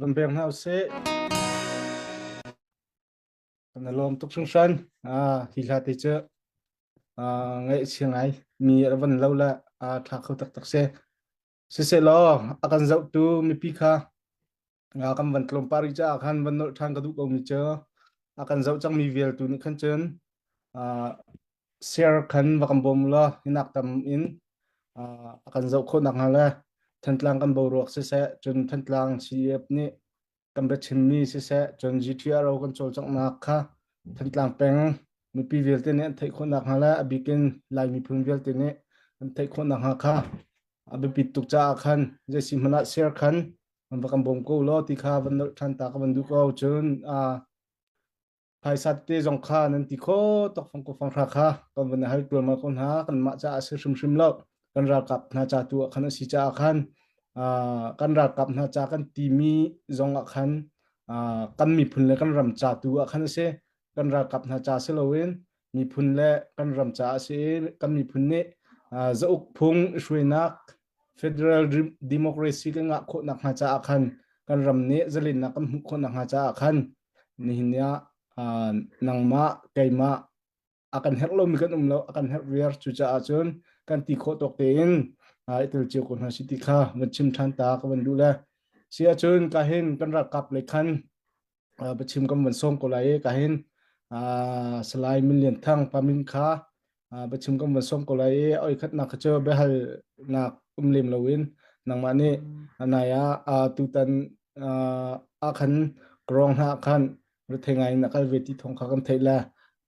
van pek hna usih. Kan lawm tuk hringhran. Ah, hi hla te cu ah, ngai si ngai. Mi ra van lo la ah, tha kho tak tak se. Siselaw, akan zauh tu mipi kha ah, kan van tlawm pari ca khan van nol than ka duh ko mi cu akan zauh cang mi vial tu nih khan cun ah, share khan va kan bawm law hinak tam in uh, a kan zoh khawh nak hnga le Thantlang kan boruak siseh cun Thantlang CDF nih kan bia chimmi siseh cun GTRO kan cawlcanghnak kha Thantlang peng mipi vialte nih an theih khawh nak hnga le a bikin Lai miphun vialte nih an theih khawh nak hnga kha a biapit tuk caah khan jeisi hmanh ah share khan va kan bawm ko law ti kha van nolh ṭhan ta ka van duh ko cun uh, Phaisa te zong kha nan ti kho tok fang ko fang hra kha kan van hal tual ma ko hna kan mah ca a si hrim hrim lo kan ralkap hna ca tu ah khan a si ca ah khan kan ralkap hna ca kan timi zong ah khan kan miphun le kan ram ca tu ah khan a si kan ralkap hna ca si loin miphun le kan ram caah si kan miphun nih zauk phung hruainak federal democracy kan ngah khawhnak hnga caah khan kan ram nih zalennak kan hmuh khawhnak hnga caah khan nihin nia nangmah keimah akan herh lomi kan um lo akan herh riar cu caah cun kan ti khawh tawk tein itel cio ko hna si ti kha van chim ṭhan ta ka van duh le si ahcun ka hin kan ralkap le khan uh, biachim kam van song ko lai e ka hin uh, salai min lian thang pamin kha uh, biachim kam van song ko lai e oi khat nak kha be hal nak um lem loin nangma ni anaya uh, tutan uh, akhan krong na khan rethengai na kal ve ti thong kha kam theila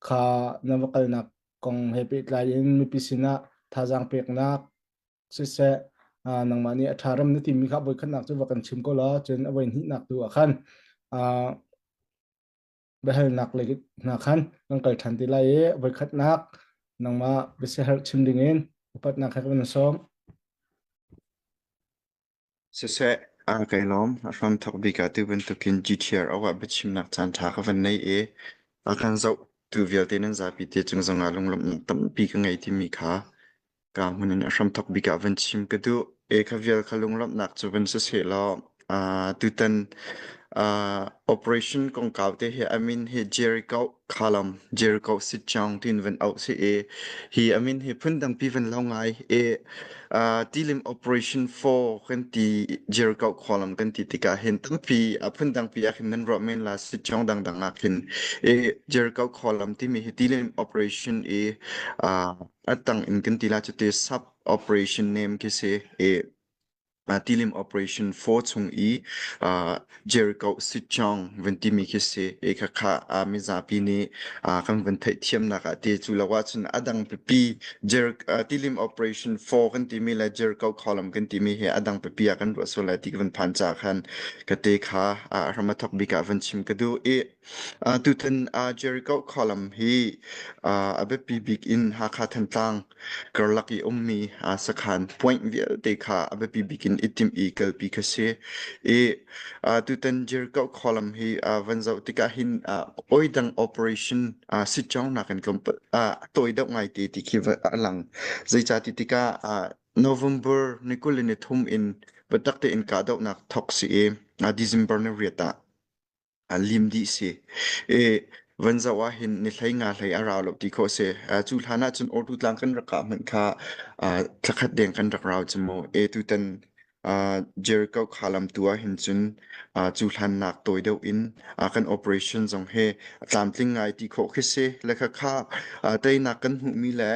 kha na wakal nak kong he pe tlai in mipi sina thazang pek nak siseh nangmah nih a ṭharam na timi kha voikhatnak cu va kan chim ko la cun a voi hnihnak tu ah khan biahalnak lei hna khan kan kal ṭhan ti lai i voikhatnak nangmah biasiaherh chim dingin upatnak he kan sawm. Siseh, aa kai lawm. A hramthok bik ah ti bantukin GTR awah biachimnak caanṭha ka van nei i a kan zohtu vialte nan zapi te cung zongah lunglawmhnak tampi ka ngei timi kha ka hmun in a hramthok bik ah van chim ka duh. E kha vial kha lunglawmhnak cu van si seh law uh, tutan uh, operation kongkau te hi amin hi Jericho khalam Jericho sit chang tin van out se e hi amin hi phun dang pi van lo ngai e uh, tilim operation 4 kan ti Jericho kholam kan ti tika hin tang pi a phun dang pi akhin nan ro men la sit chang dang dang akhin e Jericho kholam ti mi hi tilim operation e uh, atang in kan ti la chu te sub operation name ke se e tilim operation 4 chung i Jericho Sichong vun timi khi si e khakha mizapi nih kan vun theih thiamnak ah ti cu lo ah cun adang pipi tilim operation 4 kan timi le Jericho column kan timi hi adang pipi ah kan ruah sul lai ti kan phan cha khan ka te kha ramathok bik ah vun chim ka du i Tutan Jericho khualam hi a biapi bik in Hakha Thantlang karlak i ummi sakhan point vialte kha a biapi bik in i timh i kalpi kha si. I tutan Jericho khualam hi van zoh tikah hin oidang operation sitcawngnak in tawi deuh ngai te ti khi a lang. Zeicati tikah November ni kul le ni thum in biatak tein kahdohnak thawk si i December ni riat ah. A lim dih si. I van zoh ahhin ni hlei nga hlei a rau lo ti khawh si. Uh, cu hlan ahcun Ordu tlang kan rak kah hmanh kha uh, thlakhat deng kan rak rau cu mu. E tutan uh, Jericho kha lam tu ahhin cun uh, cu hlan nak toi deuh in uh, kan operation zong he tlamtling ngai ti khawh khi si. Le kha kha uh, teinak kan hmuhmi le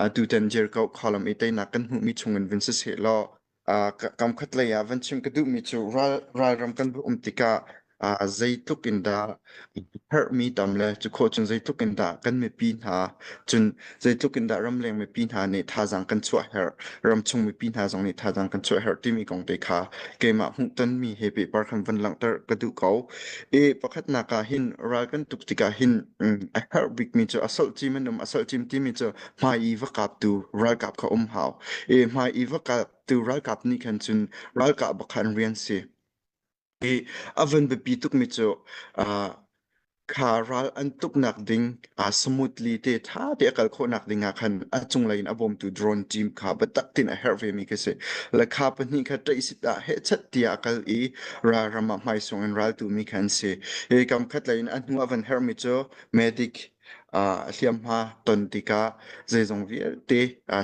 uh, tutan Jericho khalam i teinak kan hmuhmi chung in vin si se law Uh, kamkhat lei ah van chim ka duhmi cu ral ralram kan va um tikah uh, zeitluk in dah herhmi tam le cu kho cun zeitluk in dah kan mipi hna cun zeitluk in dah ramleng mipi hna nih thazaang kan chuah herh ram chung mipi hna zong nih thazaang kan chuah herh timi kong te kha keimah hmuhtonmi he pehpar khan van langhter ka duh ko e pakhatnak ah hin ral kan tuk tikah hin um, a herh bikmi cu asol cim an um asol cim timi cu hmai i va kaptu ralkap kha um hau. I hmai i va kaptu ralkap nih khan cun ralkap bakha an rian si. I a van biapi tukmi cu uh, kha ral an tuknak ding uh, smoothly te tha te a kal khawhnak ding ah khan a cunglei in a bawmtu drone team kha batak tin a herh ve mi ka si la kha pahnih kha tei sit ah he chat tia a kal i ral rama hmai sung in ral tu mi khan si i kam khat in a hnu a van her mi cu medic a hliamhma ton tikah zeizong vialte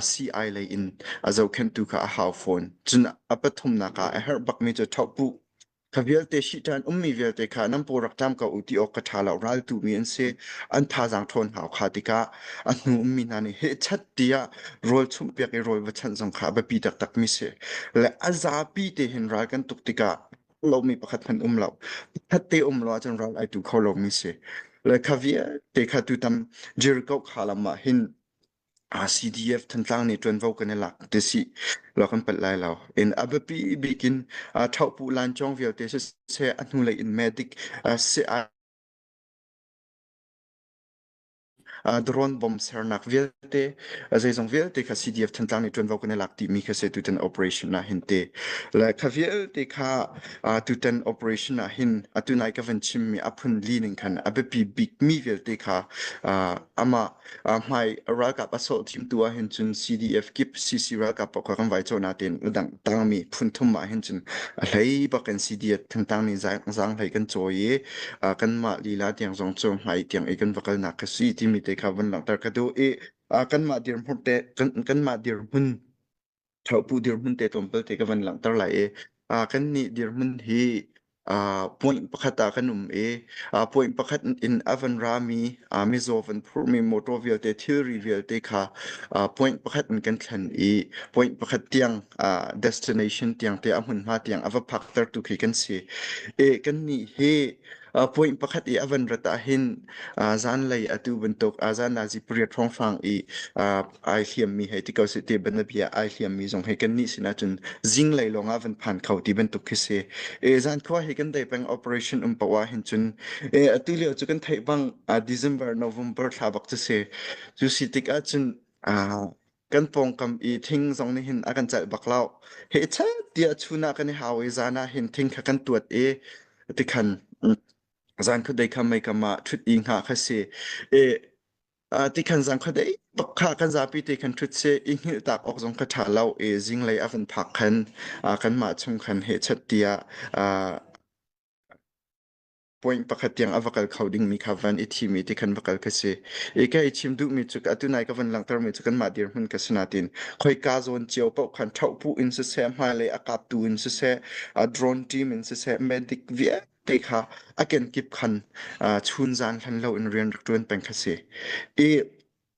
sii lei in a zohkhenhtu kha a hau fawn. Cun a pathumnak ah a herh bakmi cu ṭhawhpuh. Kha vialte shi ṭhan ummi vialte kha nan paw rak ṭam ko u ti awk ka ṭha lo. Raltumi an si. An thazaang ṭhawn hau kha tikah a hnu ummi hna nih hehchat tiah rawl chumhpiak i rawl va chanh zong kha a biapi taktakmi si. Le a zapi te hin ral kan tuk tikah lomi pakhat hmanh um lo. Khat te um lo ahcun ral ai tu kho lomi si. Le kha vialte kha tutam Jericho kha lam ah hin RCDF Thantlang nih tuanvo kan i lak te si lo kan pat lai lo in abapi bikin thaupu lan chong vialte se se a hnu lei in medic se Drone bomb sernak vialte zeizong vialte kha CDF Thantlang nih ṭuanvo kan i lak dihmi kha se tutan operation ah hin te le kha vialte kha tutan operation ah hin atu nai ka van chimmi a phun li ning khan a biapi bikmi vialte kha amah hmai ralkap a sawh thim tu ah hin cun CDF kip CC ralkap pakha kan vai chawna tein udang tangmi phun thum ah hin cun a hlei bakin CDF Thantlang nih zang hlei kan cawi i kanmah lila tiang zong cu hmai tiang i kan va kalnak ka si timi te kha van langhter ka duh i kanmah dirhmun te kanmah dirhmun ṭhaupu dirhmun te tlawmpal te ka van langhter lai i kannih dirhmun hi puanh pakhat ah kan um i puanh pakhat in a van rami mizaw van phurhmi motor vialte, thilri vialte kha point pakhat in kan thlen i point pakhat tiang destination tiang te a hmunhma tiang a va phaktertu khi kan si. E kan nih hi point pakhat i a van rat ah hin zan lei atu bantuk zan na zi pariat hrawnghrang i ai hliammi hei ti ko sih ti banabia ai hliammi zong hi kannih sinah cun zinglei lawngah van phan kho ti bantuk khi si e zan khua hi kan dei peng operation um pawa hin cun e ati leo cu kan thei bang a december november thla bak chu si chu si tik ah cun a kan pawngkam i thing zong nih hin a kan celh bak lau he chan tia chuna kan i hau i zana hin thing kha kan tuat i tikhan zan khu dei kha mei kama thut i nga kha si e Uh, ti khan zang kha dei tok kha kan zapi ti kan thut se i hngil tak ok zong ka tha lo i zinglei avan phak khan uh, kan ma chung khan he chat tia uh, point pakhat tiang ava kal kho ding mi kha van i thi mi ti khan va kal ka si i ka i chim du mi chu atu nai ka van langter mi chu kan ma dir mun ka sinatin khoi ka zon chiao pa khan thau pu in se se ma le akap tu in se se a drone team in se se medic vie te kha a kenkip khan uh, chun zan hlan lo in rian rak ṭuan peng kha si. I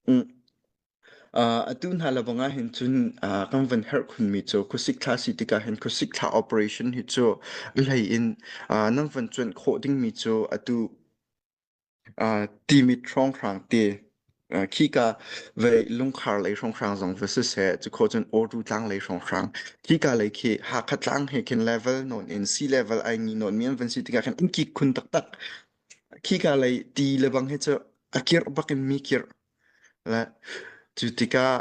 mm, uh, atu hna labanga hin cun uh, kan van her khun mi cu khusik thla si tika hin khusik thla operation hi cu lei in uh, nan van cuan khawh ding mi cu atu uh, timit hrawnghrang te uh, khika ve lungkhar lei hrawnghrang zong va si se chu kho chun oru tlang lei hrawnghrang khika lei khi ha kha tlang he khin level non in sea level ai ngi non mian van si tika khan in ki khun tak tak khika lei ti lebang he chu akir bakin mi kir Cu tikah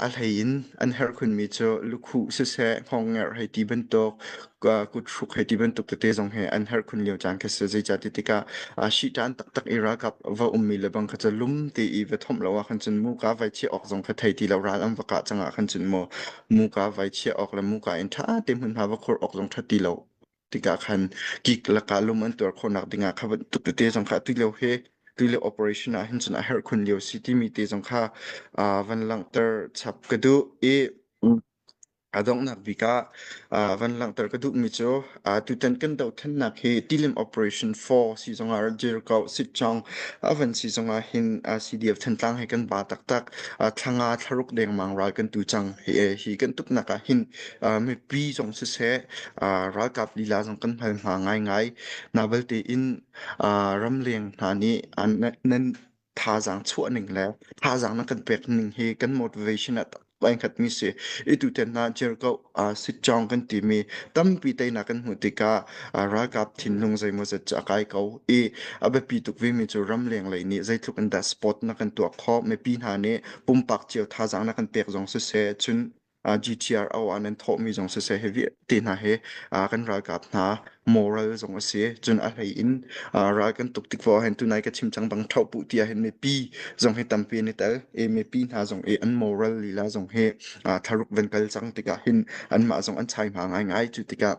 a hleiin an herh khunmi cu lukhuh siseh, hnawhngerh hei ti bantuk, kuthruk hei ti bantuk tete zong hi an herh khun lio caan khi a si. Zeicahtiah tikah ṭihṭan taktak i ralkap va ummi le bang kha cu lum tein va thawmh lo ahkhan cun muka vaichiah awk zong kha thei ti lo. Ral an va kah cang ahkhan cun maw muka vaichiah awk le muka in ṭha tein hmunhma va khur awk zong ṭha ti lo. tikah khan kik lakah lum an tuar khawhnak dingah kha bantuk tete zong kha atu lio he tu lio operation ah hin cun a herh khun lio si timi te zong kha uh, van langhter chap ka duh i a donghnak bik ah uh, van langhter ka duhmi cu uh, tutan kan dohthannak hi tilim operation 4 si zongah jirko sitchong avan si zongah hin uh, CDF thantlang he kan ba taktak uh, thlanga thlaruk dengmang ral kan tu chang hi, hi kan tuknak ah hin Uh, mipi zong siseh, uh, ralkap lila zong kan hal hna ngaingai. Na belte in uh, ramleng hna nih an nan thazaang chuahning le thazaang na kan pekning hi kan motivation at pankhat mi si itu ten na jerko uh, sit chong kan ti mi tampi tei na kan hmu tika uh, ralkap thinlung zeimaw zat cha kai ko i abe pi tuk vi mi chu ramleng lei ni zeitluk in da spot na kan tuak kho me pi hna ne pumpak chiao thazaang na kan pek zong si se chun GTRO ah nan thawhmi zong siseh hi vialte hna hi kan ralkap hna moral zong a si. Cun a hlei in ral kan tuk tik vo ahhin tunai ka chim cang bang tho puh ti ahhin mipi zong hi tampi ni tel i mipi hna zong i an moral lila zong hi tharuk van kal cang tikah hin anmah zong an chai hma ngaingai cu tikah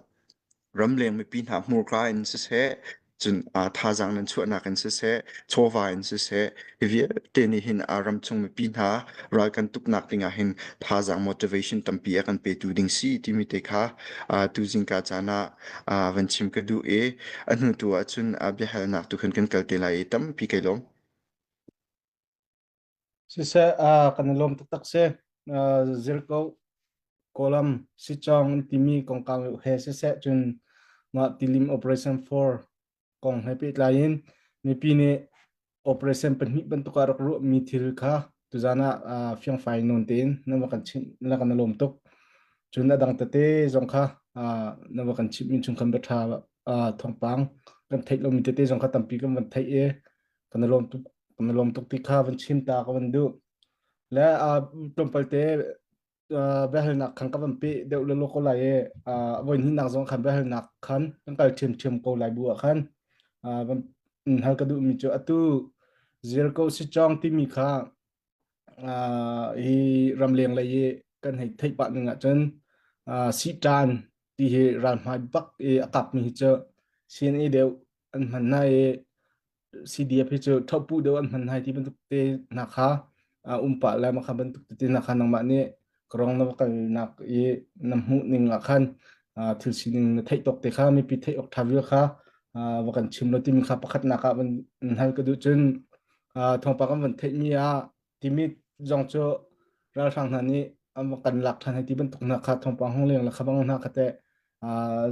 Ramleng mipi hna hmurka in siseh, cun ah thazaang nan chuahnak in siseh, chawva in siseh, hi vialte nih hin ah ramchung mipi hna ral kan tuknak ding ah hin thazaang motivation tampi a kan petu ding si timi te kha ah tuzing ka caan ah ah van chim ka duh i a hnu tu ahcun ah biahalnak tu khan kan kal te lai i tampi kai lawm. Siseh, ah kan i lawm taktak si. Uh, zirko, kawlam, sichong an timi kongkang yu he siseh cun mah tilim Operation 4 kong he pehtlai in mipi nih operation pahnih bantuk ah rak ruah mi thil kha tuzan ah uh, fiangfai nawn tein na va kan chimh na kan i lawm tuk. Cun a dang tete zong kha uh, na va kan chimh min chung kan va tha uh, thawngpang kan theih lomi tete zong kha tampi kan van theih i kan lawm tuk kan lawm tuk ti kha van chim ta ka van duh le tlawmpal te behalnak khan ka van pe deuh le lo ko lai e voi hnih nak zong khan behalnak khan kan kal thiam thiam ko lai bu khan hal ka duh mi cu atu zial ko si chong timi kha hi ramleng lei i kan hei theih pah ning ah cun sihtan ti hi ral hmai bak i a kap mi hi cu sin i deuh an hman hna i CDF hi cu thopbu deuh an hman hna ti bantuk te hna kha um pah le makha bantuk te hna kha nangmah nih krong na kalnak i na hmuh ning ah khan thil sining na theih tok te kha mipi theih ok tha vil kha va kan chim lo timi kha pakhat nak ah van hal ka duh cun thawngpang kan van theih mi ah Timit zong cu ralhrang hna nih kan lak ṭhan hei ti bantuk hna kha thawngpang hong leng le khabang hna kha teh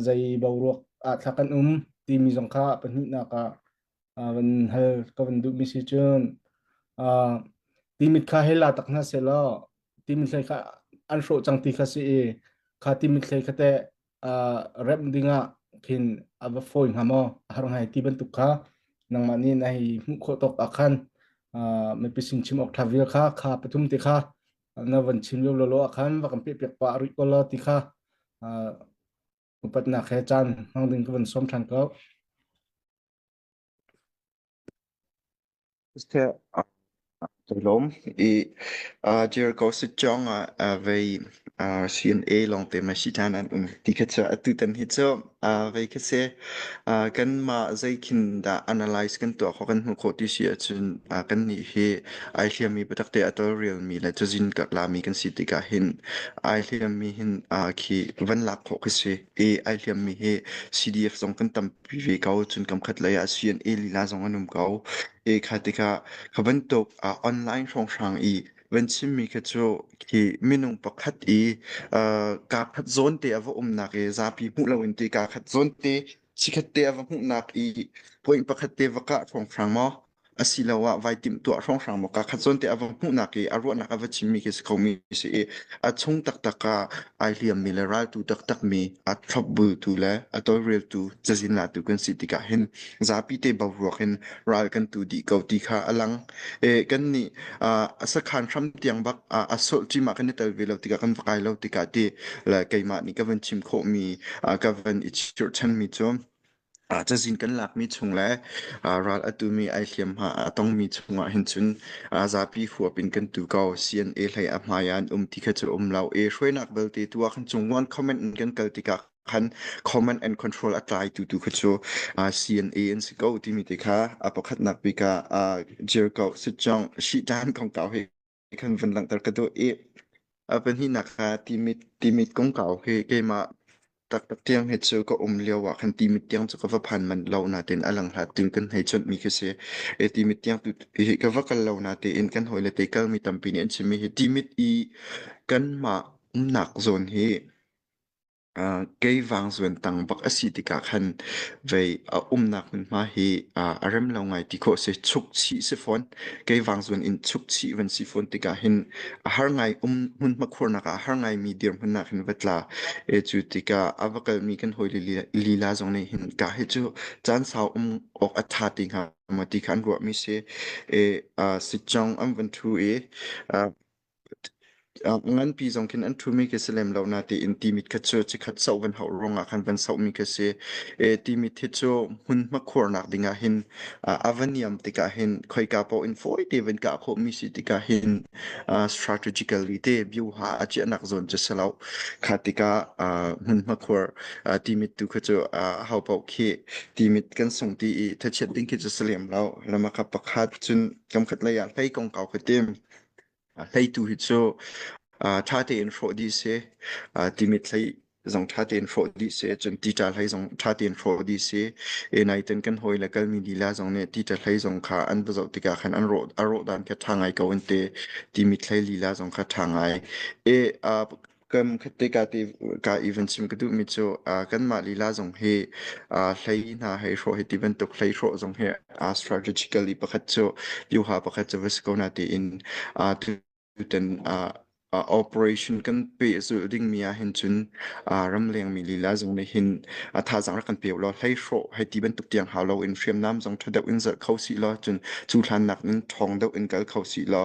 zei boruak ah thla kan um timi zong kha pahnihnak ah van hal ka van duhmi si cun timit kha hei la tak hna seh law timit hlei kha an hrawh cang ti kha si i kha timit hlei kha teh remh dingah khin a va fawi hnga maw a har ngai ti bantuk kha nangmah nih na hi hmuh khawh tawk ah khan mipising chim awk ṭha vial kha kha pathum te kha na van chim lio lolo ah khan va kan pehpiak pa a ruih ko lo ti kha upatnak he caan hmang ding ka van sawm ṭhan ko Toilom i uh, Jericho sitjong uh, uh, vei uh, CNA long te ma sitan an um ti kha cha atu tan hi cho uh, vei kha se uh, kan ma zai khin da analyze kan to kho kan hu kho ti si achun uh, kan ni hi ai hliam mi patak te ato real mi la chu jin ka la mi kan si ti ka hin ai hliam mi hin uh, khi van lak kho kha si i ai hliam mi hi CDF song kan tam Ve ko, cun kamkhat lei ah Suyan e lila zong an um ko. E kha tikah kha bantuk ah online hrawnghrang i van chimmi kha cu khi minung pakhat i uh, kaa khat zawn te a va umnak i zapi hmuh loin te kaa khat zawn te sikhat te a va hmuhnak i point pakhat te va kah hrawnghrang maw? asiloah vai timhtuah hrawnghrang maw kakhat zawn te a va hmuhnak i a ruahnak a va chimmi khi si khomi si i a chung taktak ah ai hliammi le raltu taktakmi a thlopbultu le a tawlreltu cazin latu kan si tikah hin zapi te boruak in ral kan tu dih ko ti kha a lang e, kan nih uh, a sakhan hram tiang bak uh, a solh cima kan i tel ve lo tikah kan va kai lo tikah ti le keimah nih ka van chim khawhmi uh, ka van i chirchanmi cu Ah, cazin kan lakmi chung le ah, ral a tumi ai hliamhma a tongmi chungah hin cun ah, zapi huap in kan tu ko. CNA hlei a hmai an um ti kha cu um lo. E hruainak belte tu ah khan chung wan comment in kan kal tikah khan comment and control a tlai tu tu kha cu ah, CNA an si ko timi te kha a pakhatnak bika ah, Jerko Sitjong Shitan kong kau hei kan vun langhter ka duh i a pahnihnak kha timit timit kongkau hi keimah taktak tiang he cu ka um lio ah khan timit tiang cu ka va phan manh lo na tein a lang hlat ting kan hei chawnh mi khi si e timit tiang tu hi ka va kal lo na tein kan hoi le te kal mi tampi nih an chim mi hi timit i kanmah nak zawn hi Uh, kei vangzuan tang bak asi tikah khan vei uh, umnak hmunhma hi uh, a rem lo ngai ti khawh si chuk chi si fawn kei vangzuan in chuk chi van si fawn tikah hin a har ngai um hmunhma khurnak a har ngai mi dir hmunnak hin vatla e cu tikah a vakal mi kan hoi li lila zong nih hin ka hi cu caan sau um ok atha ti nga ma ti khan ruah mi si e uh, si chong am van thu e Uh, nganpi zong khin an thumi khi si lem lo na tiin timit khat cu chikhat soh van hau ruangah khan van sohmi khi si e timit hi cu hmun hmakhur nak dingah hin uh, avaniam tikah hin khoika po in foi te van ka kho mi si tikah hin uh, strategically te view ha achiah nak zone chu selo kha tika uh, hmun hmakhur uh, timit tu khi cu uh, hau po khi timit kan song ti i thachiat ding khi chu si lem lo lama ka pakhat cun kam khat laya hlei kong kau khi tim A hleitu hi cu uh, ṭha tein hrawh dih si, uh, timit hlei zong ṭha tein hrawh dih si, cun tita hlei zong ṭha tein hrawh dih si. E nai ten kan hoi le kalmi lila zong nih tita hlei zong kha an va zoh tikah khan an rawh a rawh dan kha ṭha ngai ko an te. Timit hlei lila zong kha ṭha ngai. E uh, kan khatte ka te ka even chim ka duhmi cu uh, kanmah lila zong hi uh, hlei hna hei hrawh hi ti bantuk hlei hrawh zong hi uh, strategically pakhat cu liuha pakhat cu vasi ko na tiin uh, tutan uh, uh, operation kan pe zu dingmi ah hin cun uh, ramleng mi lila zong nih hin uh, thazang ra kan pe lo hlei hrawh hei ti bantuk tiang hau lo in hriamnam zong tha deuh in zalh kho si lo cun cu hlan nak nin thong deuh in kal kho si lo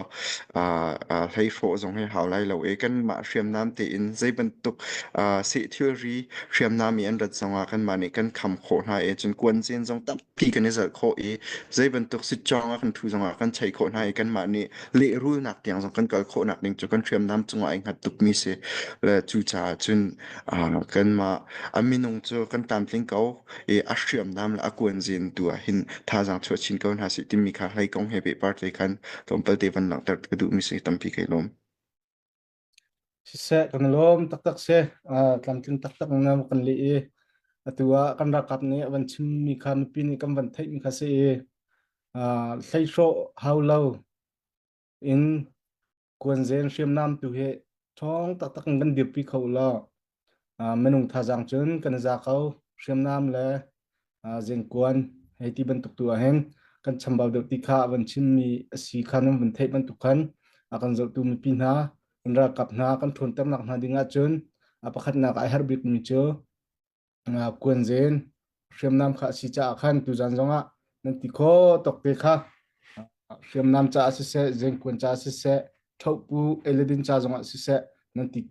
Ah, ah, hleihrawh zong hi hau lai lo e. Kanmah hriamnam tein zeibantuk ah, seh thilri hriamnam i an rat zongah kanmah nih kan kham khawh hna e. Cun kuanzen zong tampi kan i zalh khawh i zeibantuk sitcawng a kan thu zongah kan chaih khawh hna i kanmah nih lehrulnak tiang zong kan kal khawhnak ding cu kan hriamnam cungah ai hngat tukmi si. Le cucaah cun ah, kanmah a minung cu kan tlamtling ko. i a hriamnam le a kuanzin tu ah hin thazaang chuah chin ko hna sih timi kha hlei kong he pehpar te khan tlawmpal te van langhter ka duhmi si tampi kai lawm. Siseh kan lawm taktak se tlamtling taktak ngam kan li i atu ah kan rakap nih van chimmi kha mipi nih kan van theihmi kha si i hlei hrawh hau lo in kuanzen hriamnam tu hi ṭhawng taktak in kan dirpi kho law minung thazaang cun kan za ko hriamnam le zengkuan hei ti bantuk tu ahhin kan chambau deuh ti kha van chimmi asi kha nan van theih bantuk khan a kan zohtu mipi hna kan ralkap hna kan ṭhawnternak hna ding ahcun a pakhatnak ai herh bikmi cu nga kuan zen hriamnam kha si caah khan tuzan zongah nan ti kho tok te kha hriamnam ca si se zengkuan ca si se thopu eledin ca zongah si se nan ti